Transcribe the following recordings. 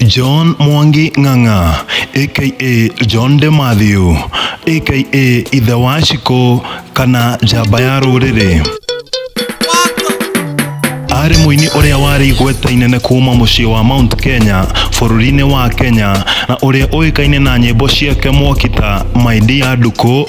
John Mwangi Ng'ang'a aka John De Matthew aka Ithe wa Shiko kana Njamba ya Rũrĩrĩ arĩ mũini ũrĩa warĩ igweta inene kuuma mũciĩ wa Mount Kenya bũrũri-inĩ wa Kenya na ũrĩa ũĩkaine na nyĩmbo ciake mwokita My Dear Nduku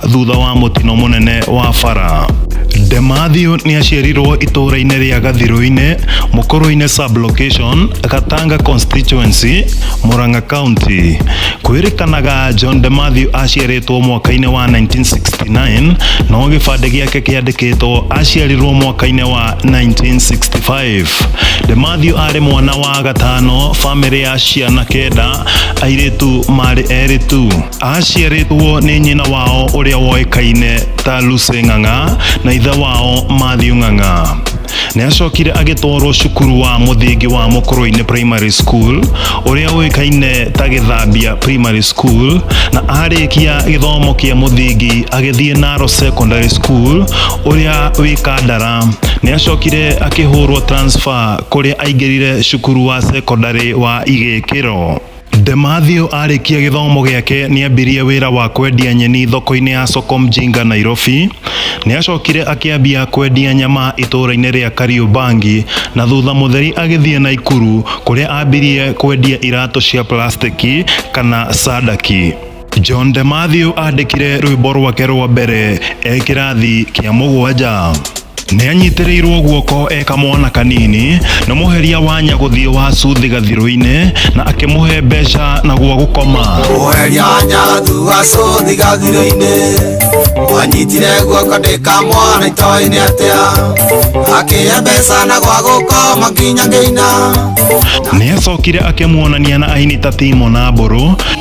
thutha wa mũtino mũnene wa bara Demathiu nĩ aciarirwo itũũra-inĩ rĩa Gathirũ-inĩ, Mũkũrũ-inĩ sublocation, Gatanga constituency, Murang'a county. Kwĩrĩkanaga John Demathiu aciarĩtwo mwaka-inĩ wa 1969 no gĩbandĩ gĩake kĩandĩkĩtwo aciarirwo mwaka-inĩ wa 1965. Demathiu arĩ mwana wa gatano famĩlĩ ya ciana kenda, airĩtu marĩ erĩ tu. Aaciarĩtwo nĩ nyina wao ũrĩa woĩkaine ta Lucy Ng'ang'a na ithe wao Matthew Ng'ang'a. Nĩacokire agĩtwarwo cukuru wa mũthingi wa Mũkũrũinĩ Primary School ũrĩa ũĩkaine ta Gĩthambia Primary School na arĩkia gĩthomo kĩa mũthingi agĩthiĩ Naro Secondary School ũrĩa wĩ Kandara. Nĩacokire akĩhũrwo transfer kũrĩa aingĩrire cukuru wa secondary wa Igĩkĩro. Demathio arĩkia gĩthomo gĩake nĩambirie wĩra wa kwendia nyeni thoko-inĩ ya Soko Mjinga Nairobi. Nĩacokire akĩambia kwendia nyama itũũra-inĩ rĩa Kariũmbangi na thutha mũtheri agĩthiĩ Naikuru kũrĩa ambirie kwendia iratũ cia plastiki kana sadaki. John de Matthew andĩkire rwĩmbo rwake rwa mbere e kĩrathi kĩa mũgwanja nĩ anyitĩrĩirwo guoko e kamwana kanini na mũheria wa nyagũthiĩ wa cuthi gathirũ-inĩ na akĩmũhe mbeca na gwa gũkoma mũheria wa nyagũthiĩ wa cuthi gathirũ-inĩ wanyitire guoko ndĩka mwana itoĩ-inĩ atĩa akĩhe mbeca na gwa gũkoma nginya ngĩina nĩ acokire akĩmuonania na aini ta timo na mbũrũ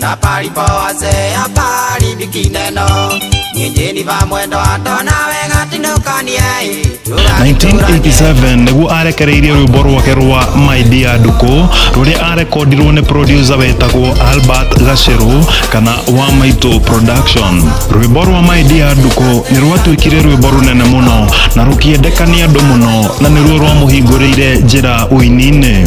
na palipo wazee hapaharibiki neno nyinyi ni va mwendo wa ndona wega tindũkanie 1987 nĩguo arekereirie rwĩmbo rwake rwa my dear nduko rũrĩa arekondirwo nĩ producer wetagwo albert gacero kana wa maitũ production rwĩmbo rwa my dear nduko nĩ rwatuĩkire rwĩmbo rũnene mũno na rũkĩendeka nĩ andũ mũno na nĩruo rwamũhingũrĩire njĩra ũininĩ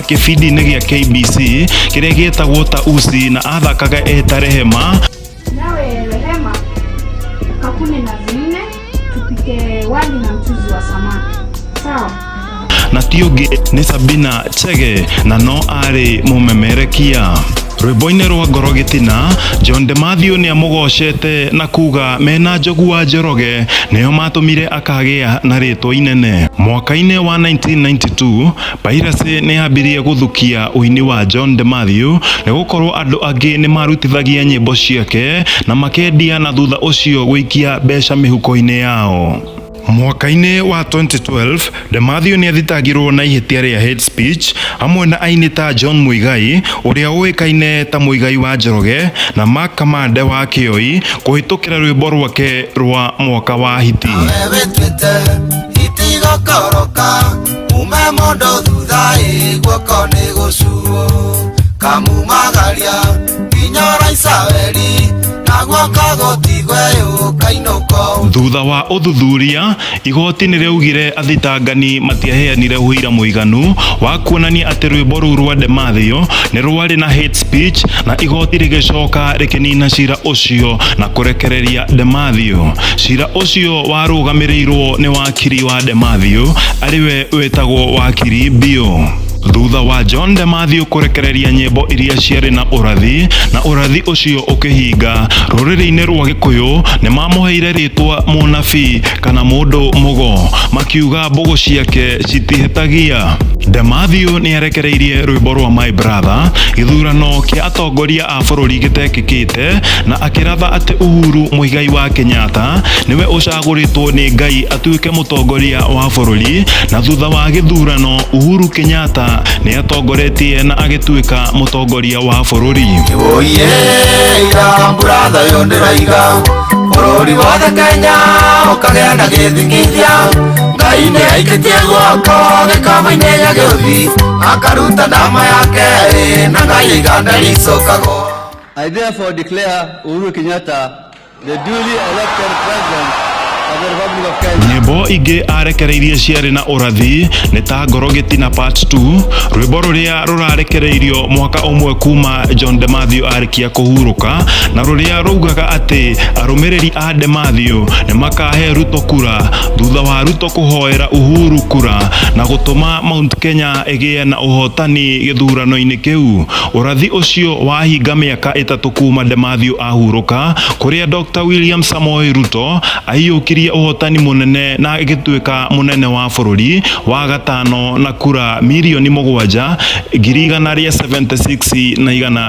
gĩbindi-inĩ gĩa KBC kĩrĩa gĩtagwo ta usi na athakaga eta rehema Nawe Rehema, kakune na vinne tupike wali na mchuzi wa samaki. Sawa? na ti ũngĩ nĩ sabina chege na no arĩ mũmemerekia rwĩmbo-inĩ rwa ngoro gĩtina john demathiũ nĩ amũgocete na kuga mena njogu wa njoroge nĩo matũmire akagĩa na rĩtwa inene mwaka-inĩ wa 1992 Vairasi nĩ yambĩrĩirie gũthukia ũini wa John de Matthew nĩ gũkorwo andũ angĩ nĩ marutithagia nyĩmbo ciake na makendia na thutha ũcio gũikia mbeca mĩhuko-inĩ yao. Mwaka-inĩ wa 2012, de Matthew nĩ athitangirwo na ihĩtia rĩa hate speech hamwe na aini ta John Muigai ũrĩa ũĩkaine ta Muigai wa Njoroge na Mark Kamande wa Kĩoi kũhĩtũkĩra rwĩmbo rwake rwa Mwaka wa Hiti. mume mondo thutha ĩ guoko nĩ gũcuo kamumagaria nginya ũraica weri naguo kagũtigwe ũkainũka ũmũ thutha wa ũthuthuria igoti nĩ rĩaugire athitangani matiaheanire ũira mũiganu wa kuonania atĩ rwĩmbo rũu rwa Demathio nĩ rwarĩ na hate speech na igoti rĩgĩcoka rĩkĩnina cira ũcio na kũrekereria Demathio cira ũcio warũgamĩrĩirwo nĩ wa Wakiri wa Demathiũ arĩwe wĩtagwo wakiri biũ. Thutha wa John de Matthew kũrekereria nyĩmbo iria ciarĩ na ũrathi na ũrathi ũcio ũkĩhinga, rũrĩrĩ-inĩ rwa Gĩkũyũ nĩ mamũheire rĩtwa mũnabii kana mũndũ mũgo, makiuga mbũgũ ciake citihĩtagia. De Matthew nĩ arekereirie rwĩmbo rwa My Brother gĩthurano kĩa atongoria a bũrũri gĩtekĩkĩte na akĩratha atĩ Uhuru Muigai wa Kenyatta nĩwe ũcagũrĩtwo nĩ Ngai atuĩke mũtongoria wa bũrũri na thutha wa gĩthurano Uhuru Kenyatta nĩ atongoretie na agĩtuĩka mũtongoria wa bũrũri. Oye, ira mbũratha yo ndĩraiga bũrũri wothe Kenya ũkagĩa na gĩthingithia Ngai nĩ aikĩtie guoko gĩkombe-inĩ gĩa gĩũthi akaruta ndama yake ĩ, na ngai iganda ricokagwo I therefore declare Uhuru Kenyatta the duly elected president of the Republic of Kenya. nyĩmbo ingĩ arekereirie ciarĩ na ũrathi nĩ ta ngoro gĩtina part 2 rwĩmbo rũrĩa rũrarekereirio mwaka ũmwe kuma john de matthew arĩkia kũhurũka na rũrĩa raugaga atĩ arũmĩrĩri a Demathio nĩ makahe Ruto kura thutha wa Ruto kũhoera Uhuru kura na gũtũma Mount Kenya ĩgĩe na ũhotani gĩthurano-inĩ kĩu. Ũrathi ũcio wahinga mĩaka ĩtatũ kuma Demathio ahurũka, kũrĩa Dr William Samoei Ruto aiyũkirie ũhotani mũnene na agĩtuĩka mũnene wa bũrũri wa gatano na kura mirioni mũgwanja, ngiri igana rĩa 76 na igana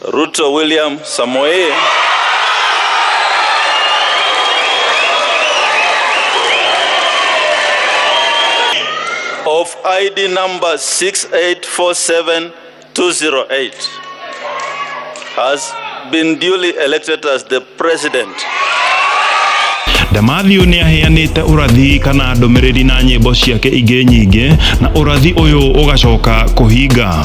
Ruto William Samoei. of ID number 6847208 has been duly elected as the president. Damathiu nä aheanĩte ũrathi kana ndũmĩrĩri na nyĩmbo ciake ingĩ nyingĩ na ũrathi ũyũ ũgacoka kũhinga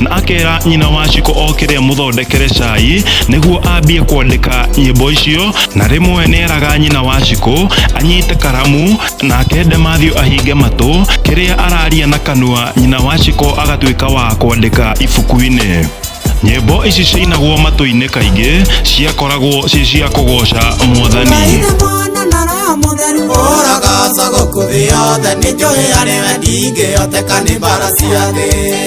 na akera nyina wa ciko okire amuthondekere cai niguo ambie kwandika nyimbo icio na rimwe neraga nyina wa ciko anyite karamu na akende Matthew ahinge matu kiria araria na kanua nyina wa ciko agatuika wa kwandika ibuku-ini nyimbo ici ciinagwo matu-ini kaingi ciakoragwo ci cia kugoca mwathani Kaire mwana na roho mũtheru ũragaca gũkũ thĩ yothe nĩ njũĩ arĩ we ndingĩhoteka nĩ mbara cia thĩ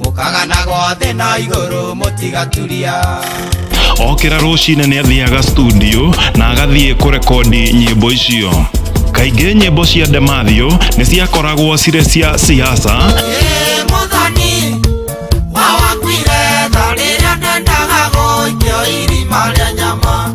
mũkaganagwo thĩ na igũrũ mũtigaturia okĩra rũcinĩ nĩ athiaga studio na agathiĩ kũrekondi nyĩmbo icio kaingĩ nyĩmbo cia ndemathio nĩ ciakoragwo cirĩ cia siasa Ĩ mũthoni wawakuire tha rĩrĩa ndendaga gũikio irima rĩa nyama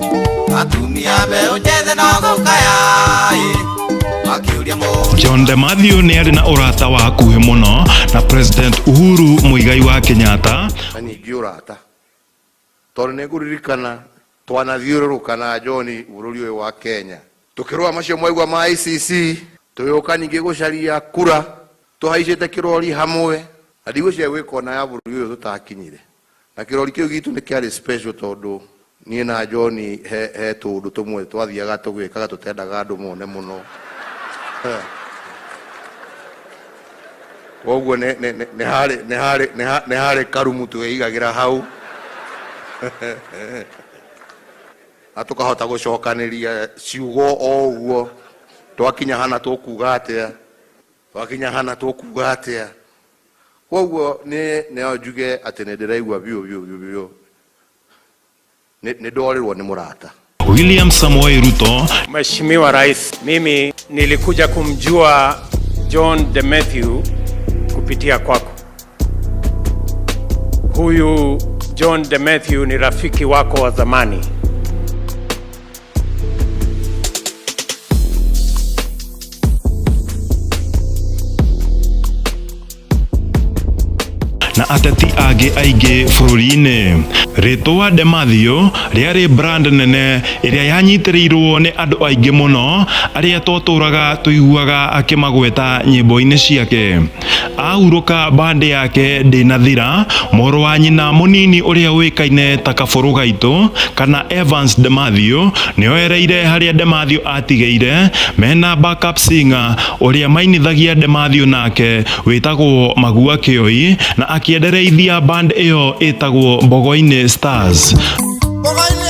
atumia mbeũ njĩthĩ no gũkaya ĩ makĩũria mũndũ John de Matthew nĩ arĩ na ũrata wa hakuhĩ mũno na President Uhuru Mũigai wa Kenyatta na ningĩ ũrata tondũ nĩ ngũririkana twanathiũrũrũka na John bũrũri ũyũ wa Kenya tũkĩrũa macio mwaigua ma ICC tũgĩũka ningĩ gũcaria kura tũhaicĩte kĩrori hamwe na ndigwĩciria gwĩkona ya bũrũri ũyũ tũtakinyire Na kĩrori kĩu gitũ nĩ kĩarĩ special tondũ niĩ na John he, he tũũndũ tũmwe twathiaga tũgĩkaga tũtendaga andũ mone mũno koguo nĩ nĩ- nĩ- nĩ harĩ nĩ harĩ nĩ ha- nĩ harĩ karumu twĩigagĩra hau na tũkahota gũcokanĩria ciugo o ũguo twakinya hana tũkuga atĩa twakinya hana tũkuga atĩa Kwoguo nĩ no njuge atĩ nĩ ndĩraigua biũ biũ biũ biũ nĩ nĩ ndorĩrwo nĩ mũrata. William Samoei Ruto Mheshimiwa Rais, mimi nilikuja kumjua John de Matthew kupitia kwako. Huyu John de Matthew ni rafiki wako wa zamani. na ateti angĩ aingĩ bũrũri-inĩ rĩtwa Demathio rĩarĩ brand nene ĩrĩa yanyitĩrĩirwo nĩ andũ aingĩ mũno arĩa twatũraga tũiguaga akĩmagweta nyĩmbo-inĩ ciake ahurũka mbandĩ yake ndĩnathira mũrũ wa nyina mũnini ũrĩa ũĩkaine ta kabũrũ gaitũ kana Evans Demathio nĩoereire harĩa Demathio atigĩire mena backup singer ũrĩa mainithagia Demathio nake wĩtagwo Magua Kĩoi na akĩendereithia band ĩyo ĩtagwo Mbogo-inĩ Stars Mbogo-inĩ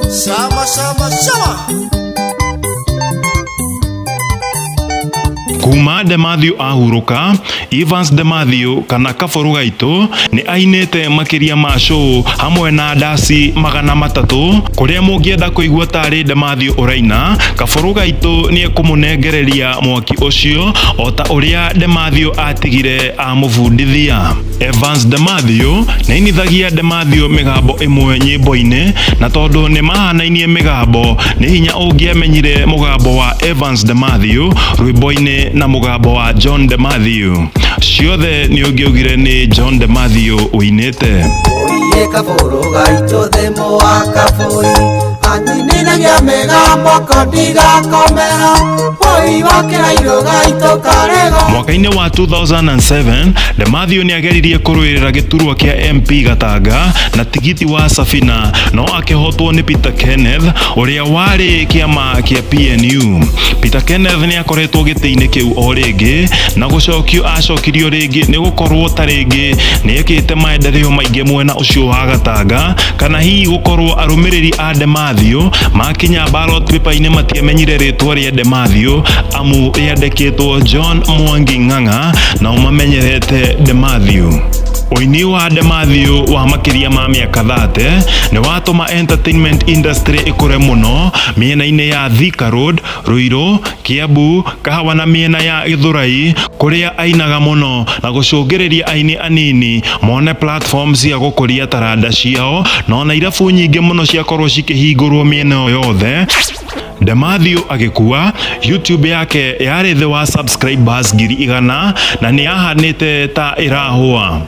Sama sama sama. kuma Demathio ahurũka Evans Demathio kana kaboru gaitũ nĩ ainĩte makĩria ma show hamwe na ndasi magana matatũ kũrĩa mũngĩenda kũigua tarĩ Demathio ũraina kaboru gaitũ nĩ ekũmũnengereria mwaki ũcio o ta ũrĩa Demathio atigire amũbundithia Evans Demathio na inithagia Demathio migambo imwe nyimbo-inĩ na tondu ni mahanainie migambo ni hinya ungiamenyire mugambo wa Evans Demathio rwimbo-inĩ na mugambo wa John Demathio ciothe ni ungiugire ni John Demathio uinite Oye kaburu gaito de moa kaburi Anyinina ya mega moko diga komera mwaka-inĩ wa 2007 lemathiũ nĩ ageririe kũrũĩrĩra gĩturwa kĩa mp gatanga na tigiti wa safina no akĩhotwo nĩ peter kenneth ũrĩa warĩ kĩama kĩa pnu peter kenneth nĩ akoretwo gĩtĩ-inĩ kĩu o rĩngĩ na gũcokio acokirio rĩngĩ nĩ gũkorwo ta rĩngĩ nĩ ekĩte maendereo maingĩ mwena ũcio wa gatanga kana hihi gũkorwo arũmĩrĩri a ndema Demathio makinya ballot paper-inĩ matiamenyire rĩtwa rĩa Demathio amu rĩandĩkĩtwo John Mwangi Ng'ang'a nao mamenyerete Demathio ũini wa Demathio wa makĩria ma mĩaka 30 nĩ watũma entertainment industry ĩkũre mũno mĩena-inĩ ya Thika Road, Ruiru, Kiambu, Kahawa na mĩena ya Gĩthũrai kũrĩa ainaga mũno na gũcũngĩrĩria aini anini mone platform cia gũkũria taranda ciao na ona irabu nyingĩ mũno ciakorwo cikĩhingũrwo mĩena ĩyo yothe Demathiũ agĩkua, YouTube yake yarĩ thĩ wa subscribers ngiri igana na nĩyahanĩte ta ĩrahũa.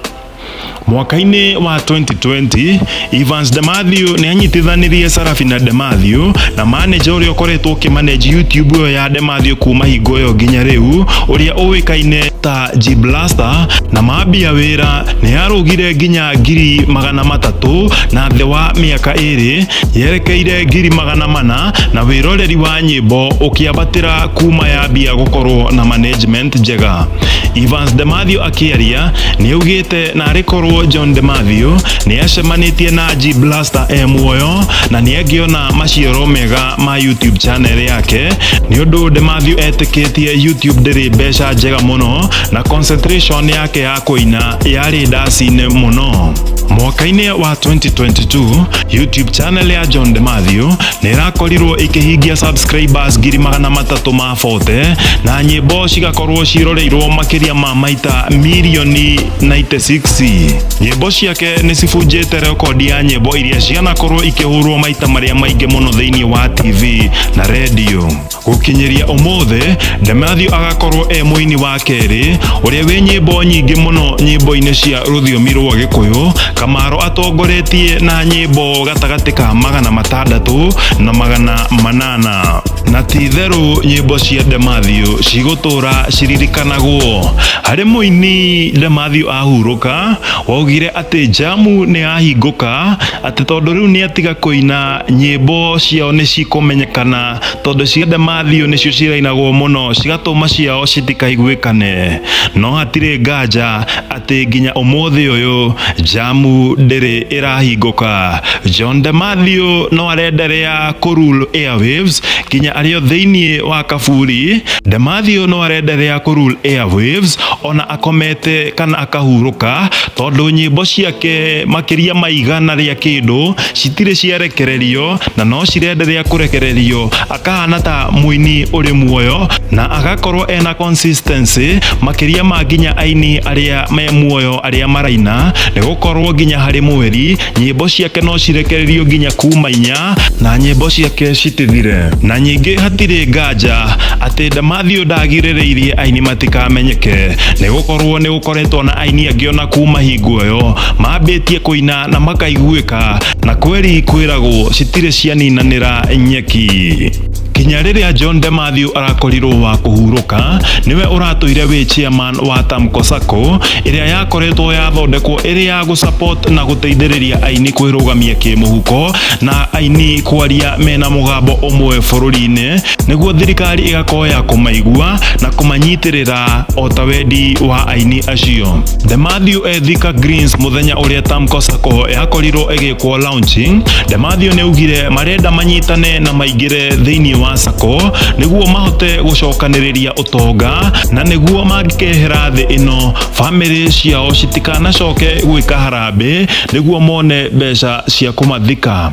Mwaka-inĩ wa 2020, Evans Demathew nĩ anyitithanirie Sarafina Demathew na maneja ũrĩa ũkoretwo ũkĩmaneji YouTube ĩyo ya Demathew kuma hingo ĩyo nginya rĩu ũrĩa ũĩkaine ta G Blaster na mambia wĩra nĩ yarũgire nginya ngiri magana matatũ na thĩ wa mĩaka ĩrĩ yerekeire ngiri magana mana na wĩroreri wa nyĩmbo ũkĩambatĩra kuma yambia gũkorwo na management njega. Evans Demathew Kĩaria nĩ augĩte narĩ korwo John de Mathew nĩ acemanĩtie na G Blaster e muoyo na nĩ angĩona maciaro mega ma YouTube channel yake nĩ ũndũ de Mathew etĩkĩtie YouTube ndĩrĩ mbeca njega mũno na concentration yake ya kũina yarĩ ndaci-inĩ mũno. Mwaka-inĩ wa 2022, YouTube channel ya John de Mathew nĩ ĩrakorirwo ĩkĩhingia subscribers ngiri magana matatũ ma 40 na nyĩmbo cigakorwo ciroreirwo makĩria ma maita mirioni 96 nyĩmbo ciake nĩ cibunjĩte rekondi ya nyĩmbo iria cianakorwo ikĩhũrwo maita marĩa maingĩ mũno thĩinĩ wa tv na redio gũkinyĩria ũmũthĩ Demathew agakorwo e mũini wa kerĩ ũrĩa wĩ nyĩmbo nyingĩ mũno nyĩmbo-inĩ cia rũthiomi rwa gĩkũyũ kamaro atongoretie na nyĩmbo gatagatĩ ka magana matandatũ na magana manana na ti itherũ nyĩmbo cia Demathio cigũtũra ciririkanagwo. Harĩ mũini Demathio ahurũka, waugire atĩ jamu nĩ yahingũka atĩ tondũ rĩu nĩ atiga kũina nyĩmbo ciao nĩ cikũmenyekana tondũ ciothe mathiũ nĩcio cirainagwo mũno cigatũma ciao citikaiguĩkane no hatirĩ nganja atĩ nginya ũmũthĩ ũyũ jamu ndĩrĩ ĩrahingũka John de Matthew no arenderea kũrule airwaves nginya arĩ o thĩinĩ wa kaburi de Matthew no arenderea kũrule airwaves ona akomete kana akahurũka tondũ nyĩmbo ciake makĩria ma igana rĩa kĩndũ citirĩ ciarekererio na no cirenderea kũrekererio akahana ta mũini ũrĩ muoyo na agakorwo ena consistency makĩria ma nginya aini arĩa me muoyo arĩa maraina nĩ gũkorwo nginya harĩ mweri nyĩmbo ciake no cirekererio nginya kuma inya na nyĩmbo ciake citithire na nyingĩ hatirĩ nganja atĩ Damathio ndagirĩrĩirie aini matikamenyeke nĩ gũkorwo nĩ gũkoretwo na aini angĩ ona kuma hingo ĩyo mambĩtie kũina na makaiguĩka na kweri kwĩragwo citirĩ cianinanĩra nyeki kinya rĩrĩa John Demathew arakorirwo wa kũhurũka nĩwe ũratũire wĩ chairman wa Tamko Sacco ĩrĩa yakoretwo yathondekwo ĩrĩ ya gũsupport na gũteithĩrĩria aini kwĩrũgamia kĩmũhuko na aini kwaria mena mũgambo ũmwe bũrũri-inĩ nĩguo thirikari ĩgakorwo ya kũmaigua na kũmanyitĩrĩra o ta wendi wa aini acio. The Matthew Ethika Greens mũthenya ũrĩa Tamko Sacco yakorirwo ĩgĩkwo launching, The Matthew nĩaugire marenda manyitane na maingĩre thĩinĩ wa Sacco nĩguo mahote gũcokanĩrĩria tonga na nĩguo mangĩkehera thĩ ĩno bamĩrĩ ciao citikanacoke gwĩka harambĩ nĩguo mone mbeca cia kũmathika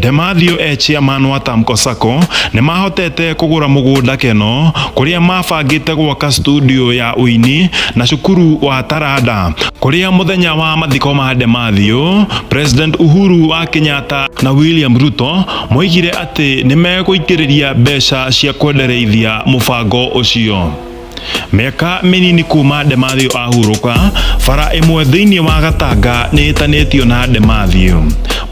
Demathio e chairman wa Tamco Sacco nĩ mahotete kũgũra mũgũnda Keno kũrĩa mabangĩte gwaka studio ya ũini na cukuru wa Taranda kũrĩa mũthenya wa mathiko ma Demathio President Uhuru wa Kenyatta na William Ruto moigire atĩ nĩ megũitĩrĩria mbeca cia kwendereithia mũbango ũcio. Mĩaka mĩnini kuuma Demathio ahurũka, bara ĩmwe thĩinĩ wa Gatanga nĩ ĩtanĩtio na Demathio.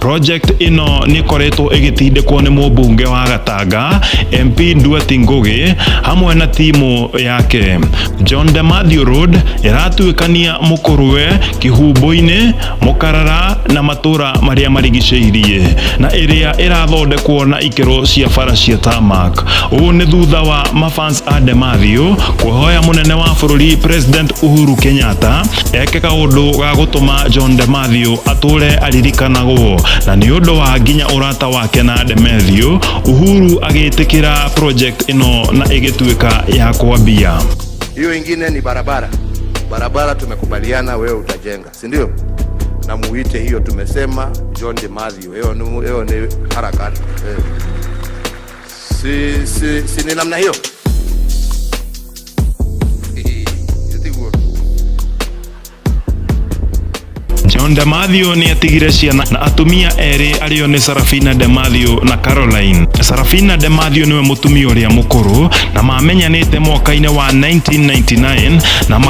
Project ĩno nĩ ĩkoretwo ĩgĩtindĩkwo nĩ mũmbunge wa Gatanga, MP Nduati Ngũgĩ, hamwe na timu yake. John Demathio Road ĩratuĩkania Mũkũrwe, Kĩhumbu-inĩ, mũkarara na matũra marĩa marigicĩirie na ĩrĩa ĩrathondekwo na ikero cia bara cia tamak ũũ nĩ thutha wa mafans a Demathio kũhoya mũnene wa bũrũri President Uhuru Kenyatta eke kaũndũ ga gũtũma John Demathio atũre aririkanagwo na nĩ ũndũ wa nginya ũrata wake na Demathio Uhuru agĩtĩkĩra project ĩno na ĩgĩtuĩka ya kwambia hiyo ingine ni barabara barabara tumekubaliana wewe utajenga si ndio? Na muite hiyo, tumesema John de Mathew, hiyo ni hiyo ni harakati eh. Si, si, si ni namna hiyo John Damathio nĩ atigire ciana na atumia erĩ arĩo nĩ Sarafina Damathio na Caroline. Sarafina Damathio nĩwe mũtumia ũrĩa mũkũrũ na mamenyanĩte mwaka-inĩ wa 1999 na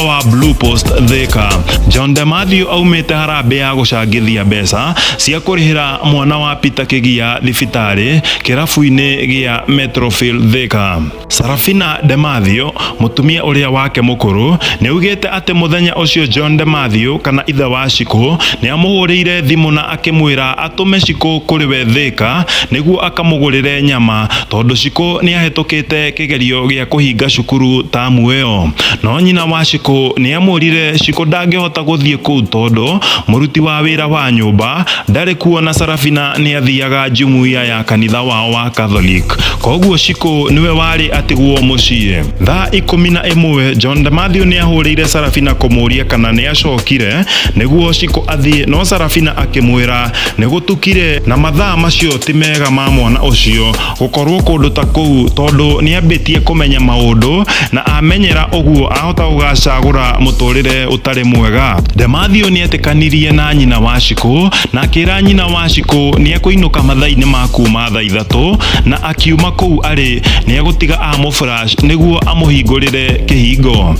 wa Blue Post Thika John de Matthew aumĩte harambĩ ya gũcangithia mbeca cia kũrĩhĩra mwana wa Peter Kĩgia thibitarĩ kĩrabu-inĩ gĩa Metrofield Thika. Sarafina de Matthew mũtumia ũrĩa wake mũkũrũ nĩaugĩte atĩ mũthenya ũcio John de Matthew kana ithe wa Shiko nĩamũhũrĩire thimũ na akĩmwĩra atũme Cikũ kũrĩ we Thĩka nĩguo akamũgũrĩre nyama tondũ Cikũ nĩahĩtũkĩte kĩgerio gĩa kũhinga cukuru tamu ĩyo. No nyina wa Cikũ nĩamwĩrire Cikũ ndangĩhota gũthiĩ kũu tondũ mũruti wa wĩra wa nyũmba ndarĩ kuo na Sarafina nĩathiaga Jumuiya ya kanitha wao wa Catholic koguo Cikũ nĩwe warĩ atigwo mũciĩ. Thaa ikũmi na ĩmwe, John Demathew nĩahũrĩire Sarafina kũmũria kana nĩacokire nĩguo Cikũ Athiĩ, no Sarafina akĩmwĩra, Nĩgũtukire, na mathaa macio ti mega ma mwana ũcio gũkorũo kũndũ ta kũu tondũ nĩambĩtie kũmenya maũndũ, na amenyera ũguo ahota gũgacagũra mũtũrĩre ũtarĩ mwega. Demathiũ nĩetĩkanirie na nyina Wachikũ na akĩra nyina Wachikũ nĩekũinũka mathaa-inĩ ma kuuma thaa ithatũ na akiuma kũu arĩ nĩegũtiga amũflash nĩguo amũhingũrĩre kĩhingo.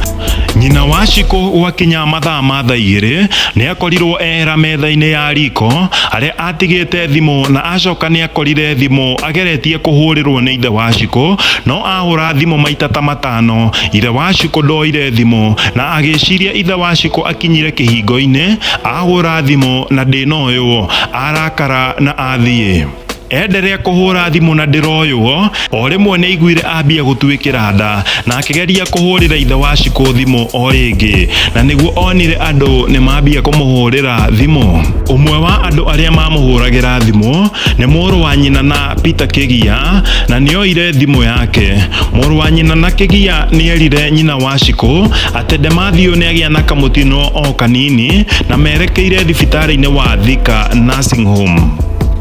Nyina wa Cikũ gwakinya mathaa ma thaa igĩrĩ nĩakorirwo ehera metha-inĩ ya riko harĩa atigĩte thimũ na acoka nĩakorire thimũ ageretie kũhũrĩrwo nĩ ithe wa Cikũ no ahũra thimũ maita ta matano ithe wa Cikũ ndoire thimũ na agĩciria ithe wa Cikũ akinyire kĩhingo-inĩ ahũra thimũ na ndĩnoywo arakara na athiĩ. enderea kuhura thimu na ndiroywo o rimwe ni iguire ambia gutuikira nda na akigeria kuhurira ithe wa ciku thimu o ringi na niguo onire andu ni mambia kumuhurira thimu umwe wa andu aria mamuhuragira thimu ni muru wa nyina na Peter Kigia na nioire thimu yake muru wa nyina na Kigia nierire nyina wa ciku ati Demathio ni agia na kamutino o kanini na merekeire thibitari-ini wa Thika Nursing Home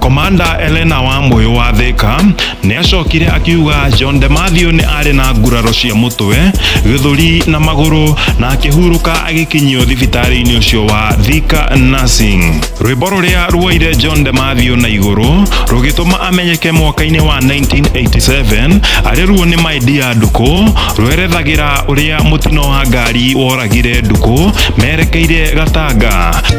komanda elena wa mũyũ wa thĩka nĩ acokire akiuga john de matthew nĩ arĩ na nguraro cia mũtwe gĩthũri na magũrũ na akĩhurũka agĩkinyio thibitarĩ-inĩ ũcio wa thika nursing rwĩmbo rũrĩa ruoire john de matthew na igũrũ rũgĩtũma amenyeke mwaka-inĩ wa 1987 arĩ ruo nĩ maidia ndukũ rwerethagĩra ũrĩa mũtino wa ngari woragire ndukũ merekeire gatanga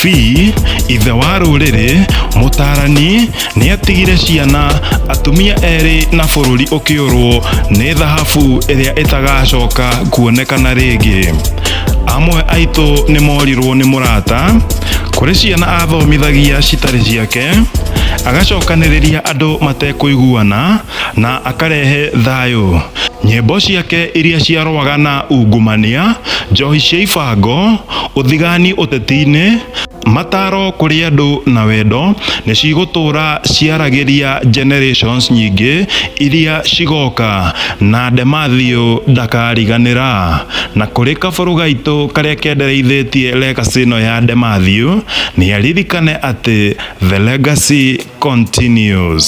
Fee, ithe wa rũrĩrĩ, mũtaarani, nĩatigire ciana, atumia erĩ na bũrũri ũkĩũrwo nĩ thahabu ĩrĩa ĩtagacoka kuonekana rĩngĩ. Amwe aitũ nĩmorirwo nĩ mũrata, kũrĩ ciana athomithagia citarĩ ciake, agacokanĩrĩria andũ matekũiguana, na akarehe thayũ. Nyĩmbo ciake iria ciarũaga na ungumania, njohi cia ibango, ũthigani ũteti-inĩ, mataro kũrĩ andũ na wendo nĩ cigũtũũra ciaragĩria generations nyingĩ iria cigoka na Demathio ndakariganĩra. Na kũrĩ kabũrũ gaitũ karĩa kendereithĩtie legacy ĩno ya Demathio nĩ aririkane atĩ the legacy continues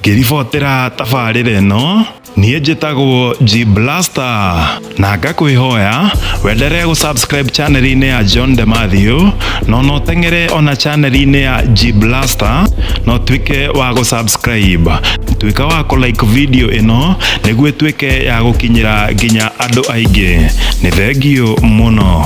ngĩribotera tabarĩra ĩno niĩ njĩtagwo G Blaster na ngakwĩhoya wenderee gũsubscribe chaneli-inĩ ya John de Matthew no no teng'ere ona chaneli-inĩ ya G Blaster no tuĩke wa gũsubscribe tuĩka wa kũlike video ĩno nĩguo ĩtuĩke ya gũkinyĩra nginya andũ aingĩ nĩ thengio mũno